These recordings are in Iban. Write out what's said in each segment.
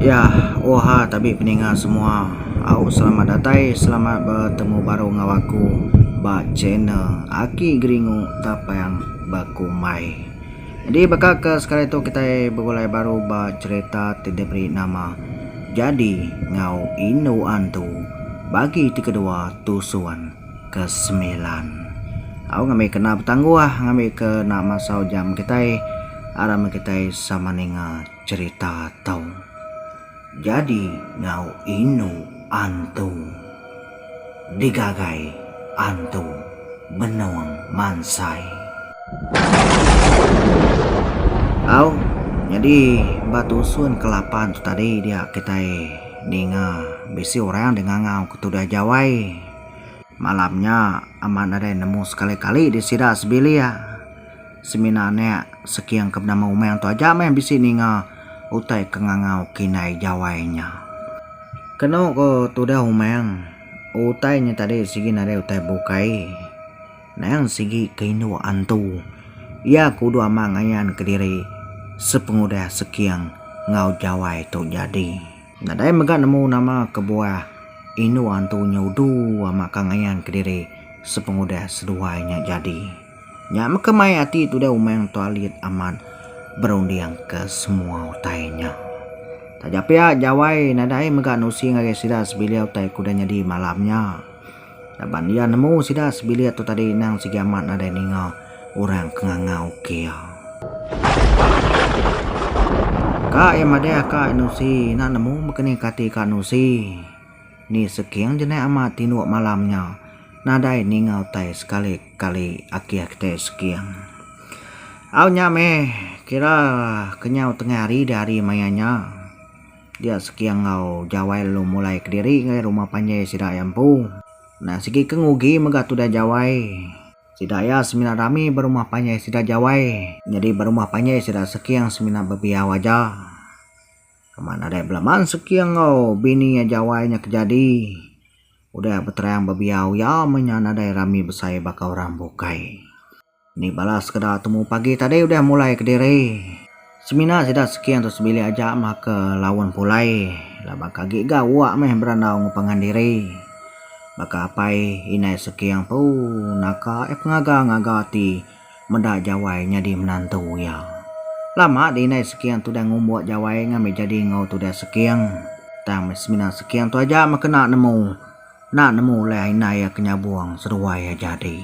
Ya, oha tabi peninga semua. Au selamat datai, selamat betemu baru enggau aku ba channel Aki Geringu Tapang Bekumbai. Jadi baka ke sekali tu kita begulai baru ba cerita ti diberi nama Jadi ngau Indu Antu bagi ti kedua Tusuan. ke semilan. Au ngambi ke enda betangguh ngambi ke enda masau jam kitai aram meh kitai sama ninga cerita tu. Jadi ngau inu antu digagai antu benung mansai. Au nyadi ba tusun ke lapan tu tadi dia kitai ninga bisi orang dengangau ke tudah jawai. Malam nya, Amat nadai nemu sekali-kali di sida sebilik. Semina anak Seking ke benama Umang tu aja meh bisi ninga utai ke ngangau kitai jawai nya. Kenu ku tudah Umang, utai nya tadi sigi nadai utai bukai. Nang sigi ke indu antu iya ke udah ama ngayanka diri sepengudah Seking enggau jawai tu jadi. Nadai mega nemu nama kebuah indu antu nya udu amat ka ngayan kediri sepengudah seduai nya jadi. Nya mega mai ati Tudai Umang Tok Alit amat berunding ke semua utai nya. Taja pia Jawai nadai mega nusi ngagai sida sebilik utai ke udah nyadi malam nya. Laban iya nemu sida sebilik tu tadi endang sigi amat nadai ninga orang ke nganga ukir. Ka iya madah ka Nusi ina nemu bekeni ka ati ka Nusi. Ni seking je naih amat tinduk malam nya. Nadai ninga utai sekali kali akih kitai seking. Au nya meh kira kenyau tengah hari dah hari maya nya. Dia seki enggau Jawai lalu mulai kediri ngagai rumah panjai sida iya empu. Endang sigi ke ngugi mega tudah Jawai. Sida iya semina rami ba rumah panjai sida Jawai. Nyadi ba rumah panjai sida Sekiang semina bebiau aja. Kema nadai belaman Sekiang enggau bini iya Jawai nya kejadi. Udah beterang bebiau iya meh nya nadai rami besai baka orang bukai. Indi bala sekeda temu pagi tadi udah mulai kediri. Semina sida seki antu sebilik aja maka laun pulai laban ke agi ga uak meh berandau ngepangan diri. Baka apai inai seki empu naka eh pengaga ngaga ti meda jawai nyadi menantu iya. Lama di inai seki antu udah ngumbuk jawai ngambi jadi enggau tudah seki tang meh semina seki antu aja meh kena nemu nak nemu ulih inai iya ke nyabung seduai iya jadi.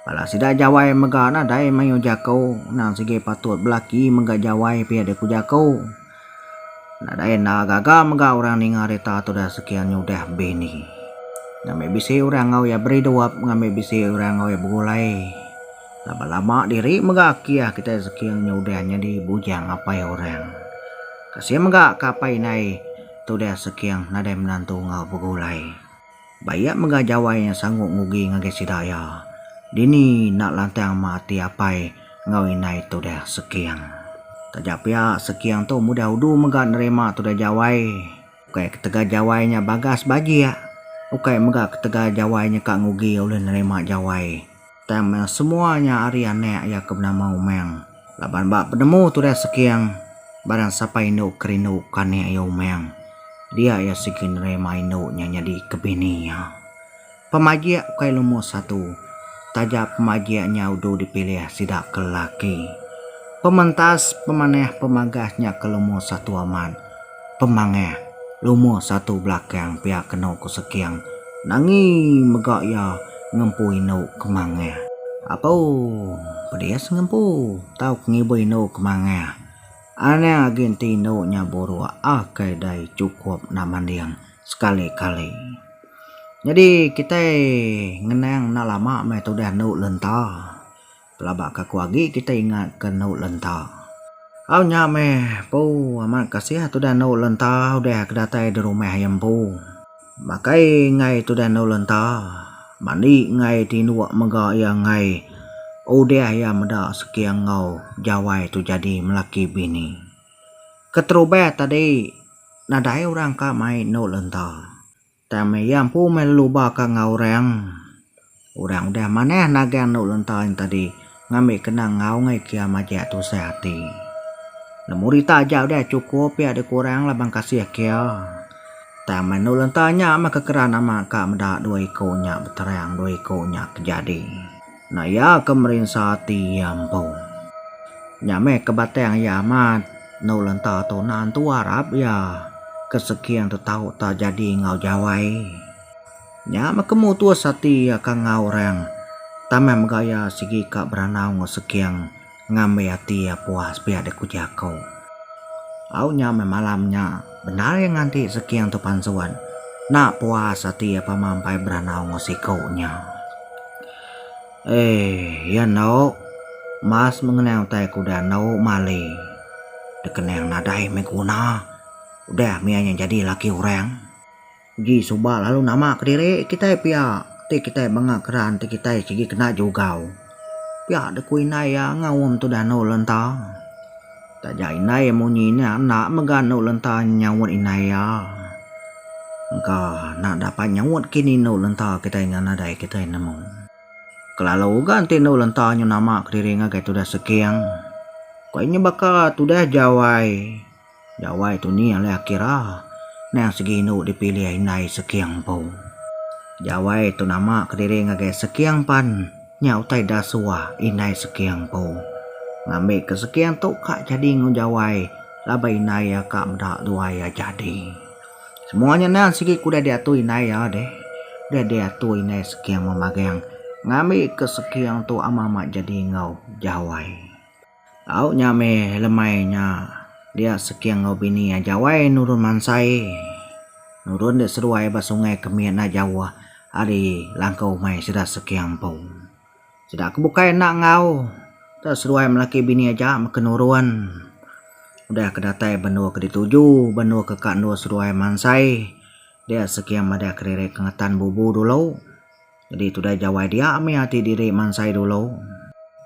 Bala sida jawai mega nadai mayuh jaku, endang sigi patut belaki mega jawai pia deh ku jaku. Nadai enda gaga mega orang ninga rita tudah sekian nyudah bini. Ngambi bisi orang enggau iya beridup, ngambi bisi orang enggau iya begulai. Laban lama diri mega kiah kitai sekian nyudah nyadi bujang apai orang. Kasih mega ke apai indai tudah sekian nadai menantu enggau begulai. Bayak mega Jawai nya sangguk ngugi ngagai sida iya. Dini enda lantang ma ati apai enggau indai tudah Seking. Taja pia, Seking tu mudah udu mega nerima tudah Jawai. Ukai ketegal Jawai nya bagas bajik, ukai mega ketegal Jawai nya ka ngugi ulih nerima Jawai. Tang meh semua nya ari anak iya ke benama Umang. Laban ba penemu tudah Seking, barang sapa indu ke rinduka anak iya Umang, dia iya sigi nerima indu nya nyadi ke bini iya. Pemajik ukai lumur satu, taja pemajik nya udu dipilih sida ke lelaki. Pementas pemanah pemagah nya ke lumur satu amat. Pemangah, Lumur satu belakang pia kenu ku Seking nangi mega iya ngempu indu Kemangah. Apo pedis ngempu tauka ngiba indu Kemangah? Anak agi enti indu nya buruk akai dai chukup enda manding sekali-kali. Nyadi kitai ngenang enda lama meh tudah endu lenta. Pelaba ka aku agi kitai ingat ka endu lenta. Au nya meh empu amat kasih tudah endu lenta udah ke datai di rumah iya empu. Makai enggai tudah endu lenta, mandi enggai ti indu mega iya enggai udah iya meda sekir enggau jawai tu jadi melaki bini. Keterubah tadi nadai orang ka mai endu lenta. Tang iya empu meh lalu ba ka enggau orang. Orang udah manah nagang enda ulun taing tadi ngambi kena ngaungi kia majak tusah ati. Nemu rita aja udah chukup pia dikurang laban kasih kia. Tang meh enda ulun taing nya meh kekeran ama ka meda dua iku nya beterang dua iku nya kejadi. Enda iya ke merinsa ati iya empu. Nya meh ke batang iya amat endu lenta tu enda entu arap iya ke seking tu tau ta jadi enggau Jawai. Nya meh ke mutus ati iya ka enggau orang taman mega iya sigi ka berandau enggau seking. Ngambi ati iya puas pia dek uji aku. Au nya meh malam nya bendar iya nganti seking tu pansuan. Nak puas ati iya pama empai beranau enggau siku nya. Eii iya endo mas mengenang utai ke udah endo mali. Dek kening nadai meh guna udah mih iya nya jadi laki orang. Uji suba lalu nama kediri kitai pia ti kitai banga keran ti kitai sigi kena jugau. Pia deh ku indai iya ngaum tudah anu lenta. Taja indai iya munyi nya enda mega anu lenta nyaut indai iya. Engka enda dapat nyaut kini anu lenta kitai nya nadai kitai nemu. Kelalu uga enti anu lenta nyau nama kediri ngagai tudah seking. Ku iya nya baka tudah jawai. Jawai tu ni alai akira nang segi indu dipilih indai Sekiang empu. Jawai tu nama kediri ngagai Sekiang pan nya utai da suah indai Sekiang empu. Ngambi ke Sekiang tu ka jadi enggau Jawai laban indai iya ka meda dua iya jadi. Semua nya nang segi ke udah diatur indai iya deh. Udah diatur indai Sekiang memagang ngambi ke Sekiang tu amat-amat jadi enggau Jawai. Au nya meh lemai nya dia seking enggau bini iya jawai nurun mansai nurun dia seduai ba sungai ke mie enda jauh ari langkau umai sida seking empu. Sida ke bukai enda enggau tau seduai laki bini aja meken nurun udah ke datai ba endur ke dituju ba endur ke ka endur seduai mansai dia seking madah kediri ke ngetan bubu dulu. Jadi tudah jawai dia mih ati diri mansai dulu.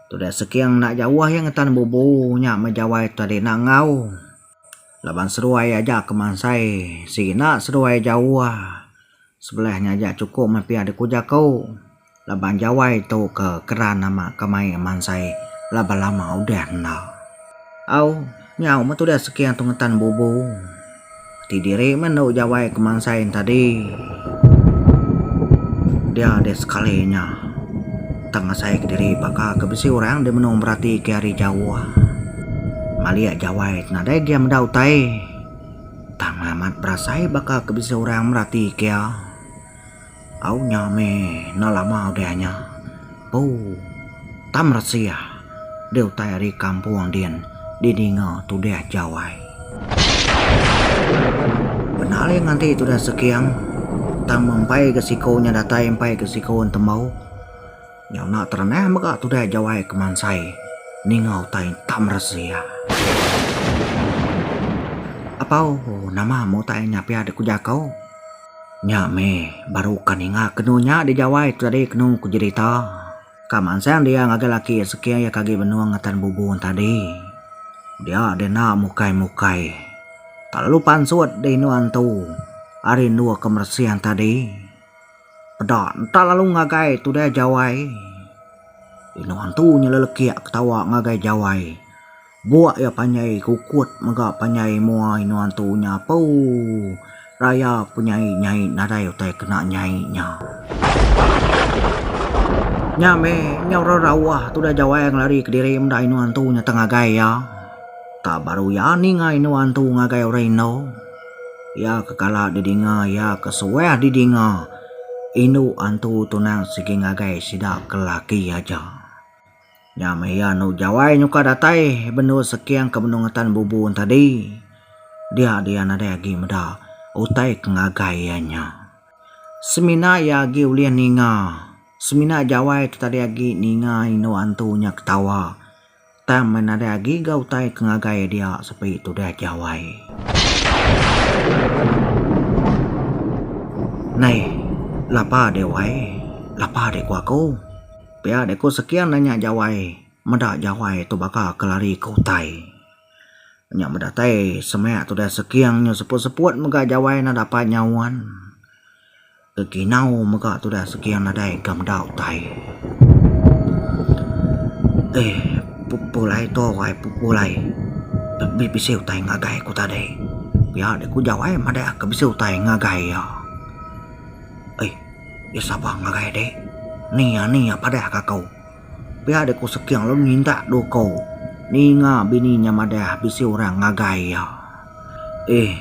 Tudah seking enda jauh iya ngetan bubu nya meh jawai tadi enda enggau. Laban seduai aja ke mansai sigi enda seduai jauh. Sebelah nya aja chukup meh pia deka jaku laban jawai tu ke keran amat ke main mansai laban lama udah enda. Au. Nyau meh tudah Seking tu ngetan bubu. Ti diri meh enda jawai kemansai enta di. Dia deh sekali nya. Tang asai kediri baka ke bisi orang deh menung berati ke ari jauh. Malik jawai ti nadai gia meda utai. Tang amat berasai baka ke bisi orang merati ke iya. Au nya meh enda lama udah nya empu tam resiah di utai ari kampung din didinga tudah jawai. Penaling anti tudah seking tang mempai ke siko nya datai empai ke siko entembau nya enda terenah mega tudah jawai kemansai ninga utai tam resiah. Apau nama mu utai nya pia dikujaku? Nya meh baru ka ninga kenu nya dijawai tu tadi kenu ku jerita. Ka mansang dia ngagai laki iya seke iya ke agi benung ngetan bubu tadi. Dia deh enda mukai-mukai. Tak lalu pansut deh indu antu ari endu ke meresing tadi. Peda enta lalu ngagai tu deh jawai. Indu antu nyelelekik ketawa ngagai jawai. Buak iya panjai kukut mega panjai mua inua entu nya puu. Raya penyai nyai nadai utai kena nyai nya. Nya meh, nyau rerauah tudah jawai ngelari kediri meda inua entu nya tang ngagai iya. Tau baru iya ninga inua entu ngagai orang indu. Iya ke kala didinga iya ke suah didinga indu entu tunang sigi ngagai sida ke laki aja. Nya meh iya enda jawai nyukar datai bendu Seking ke benung ngetan bubu entadi. Dia dia nadai agi meda utai ke ngagai iya nya. Semina iya agi ulih ninga, semina jawai tu tadi agi ninga indu antu nya ketawa tang meh nadai agi ga utai ke ngagai iya dia sepi tudah jawai. Nai, lapa deh wai, lapa deh ku aku. Pia deh ku sekian deh nya jawai meda jawai tu baka ke lari ke utai. Nya meda tai semaya tu deh sekian nyu seput-seput mega jawai ne dapai nyaun ke kinau mega tu deh sekian nadai ke meda utai. Eh pepulai tu wai pepulai be bisi utai ngagai ku tadi. Pia deh ku jawai meda ke bisi utai ngagai iya. Ai. Iya sabar ngagai dek. Ni ya ni ya padah ka ko. Pia dek ko seking lalu nyintak do ko. Ninga bini nya madah bisi orang ngagai iya. Eh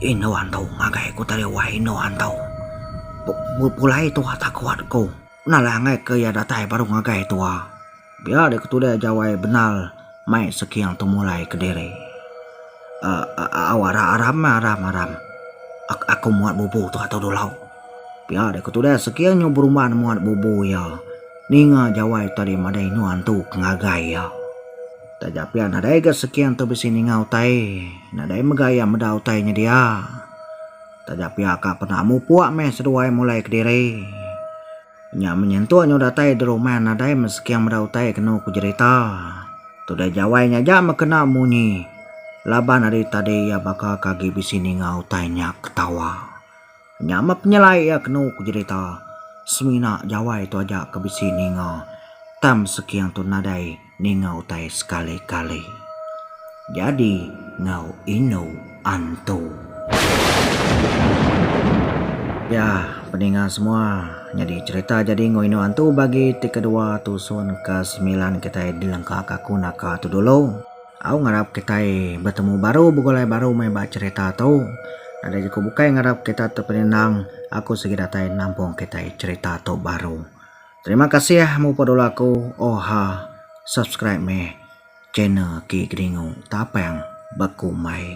endo anto ngagai ko tadi wai endo anto. Pulai tua takut ko. Nalah angai ke iya datai baru ngagai tua. Pia deh ketudah Jawai Benal mai Seking Temulai kediri. Au aram aram meh aram aram. Aku muat bubu tu atau dulau. Pia deh ketudah Seking nyu berumban muat bubu iya. Ninga Jawai tadi madai nyu antu ke ngagai iya. Taja pia nadai ga Seking tu bisi ninga utai. Nadai mega iya meda utai nyedia. Taja pia ka pernah mupuk meh seduai mulai kediri. Nya menyentuk nyau datai di rumah nadai meseking meda utai kenu ku jerita. Tudai jawai nya aja meh kena munyi. Laban ari tadi iya baka ke agi bisi ninga utai nya ketawa. Nya meh penyelai iya kenu ku jerita. Semina jawai tu aja ke bisi ninga. Tang meseking tu nadai. Ninga utai sekali-kali. Jadi ngau inu antu. Ya, peninga semua, nyadi cerita jadi enggau inu antu bagi ti kedua tusun ke semilan kitai dilengka ka aku naka tu dulu. Au ngarap kitai betemu baru begulai baru meh ba cerita tu. Enda jeku bukai ngarap kita terpeninang aku sigi datai nampung kitai cerita tu baru. Terima kasih muput ulu aku oha subscribe meh channel ki geringu tapang bekumai.